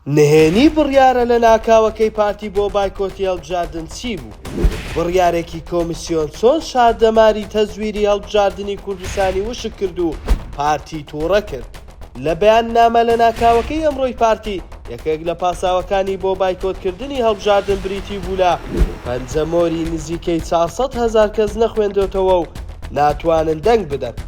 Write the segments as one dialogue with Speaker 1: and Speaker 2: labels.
Speaker 1: نهێنی بڕیارە لەناکاوەکەی پارتی بۆ بایکۆتی هەڵبژاردن چی بوو؟ بڕیارێکی کۆمیسیۆن چۆن شار دەماری تەزویری هەڵبژاردنی کوردستانی وشک کرد و پارتی توڕە کرد؟ لە بەیاننامە لەناکاوەکەی ئەمڕۆی پارتی، یەکێک لە پاساوەکانی بۆ بایکۆتکردنی هەڵبژاردن بریتی بوو لە پەنجەمۆری نزیکەی چوار سەد هەزار کەس نەخوێندۆتەوە و ناتوانن دەنگ بدەن.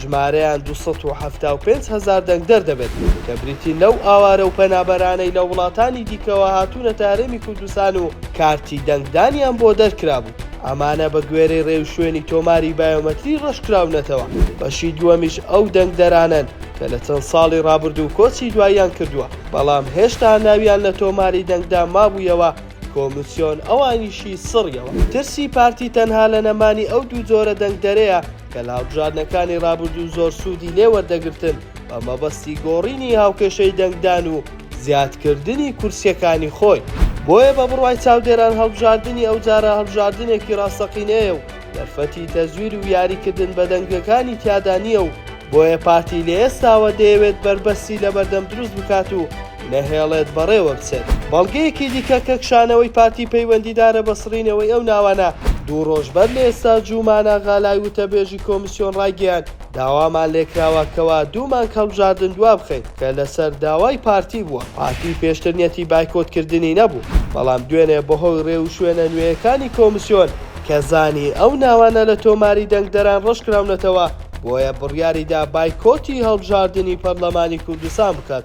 Speaker 1: ژمارەیان دوو سەد و حەفتا و پێنج هەزار دەنگدەر دەبێت کە بریتین لەو ئاوارە و پەنابەرانەی لە وڵاتانی دیکەوە هاتوونەتە هەرێمی کوردستان و کارتی دەنگدانیان بۆ دەرکرابوو، ئەمانە بە گوێرەی رێوشوێنی تۆماری بایۆمەتری رەشکراونەتەوە، بەشی دووەمیش ئەو دەنگدەرانەن کە لە چەند ساڵی رابردوو کۆچی دواییان کردووە، بەڵام هێشتا ناویان لە تۆماری دەنگدا مابوویەوە، کۆمیسیۆن ئەوانیشی سڕیەوە. ترسی پارتی تەنها لە نەمانی ئەو دوو جۆرە دەنگدەرەیە، کە لە هەڵبژاردنەکانی رابردوو زۆر سوودی لێ وەردەگرتن بە مەبەستی گۆڕینی هاوکێشەی دەنگدان و زیادکردنی کورسییەکانی خۆی، بۆیە بە بڕوای چاودێران هەڵبژاردنی ئەوجارە هەڵبژاردنێکی راستەقینەیە و دەرفەتی تەزویر و یاریکردن بە دەنگەکانی تیادا نییە و بۆیە پارتی لە ئێستاوە دەیەوێت بەربەستی لەبەردەم دروست بکات و نەهێڵێت بەڕێوە بچێت. بەڵگەیەکی دیکە کە کشانەوەی پارتی پەیوەندیدارە بە سڕینەوەی ئەو ناوانە، دوو ڕۆژ بەر لە ئێستا جوومان ئاغالای وتەبێژی کۆمیسیۆن ڕایگەیاند، داوامان لێکراوە کەوا دوو مانگ هەڵبژاردن دوابخەین، کە لەسەر داوای پارتی بووە، پارتی پێشتر نیەتی بایکۆتکردنی نەبوو، بەڵام دوێنێ بەهۆی ڕێوشوێنە نوێیەکانی کۆمیسیۆن، کە زانی ئەو ناوانە لە تۆماری دەنگدەران ڕەشکراونەتەوە، بۆیە بڕیاریدا بایکۆتی هەڵبژاردنی پەرلەمانی کوردستان بکات.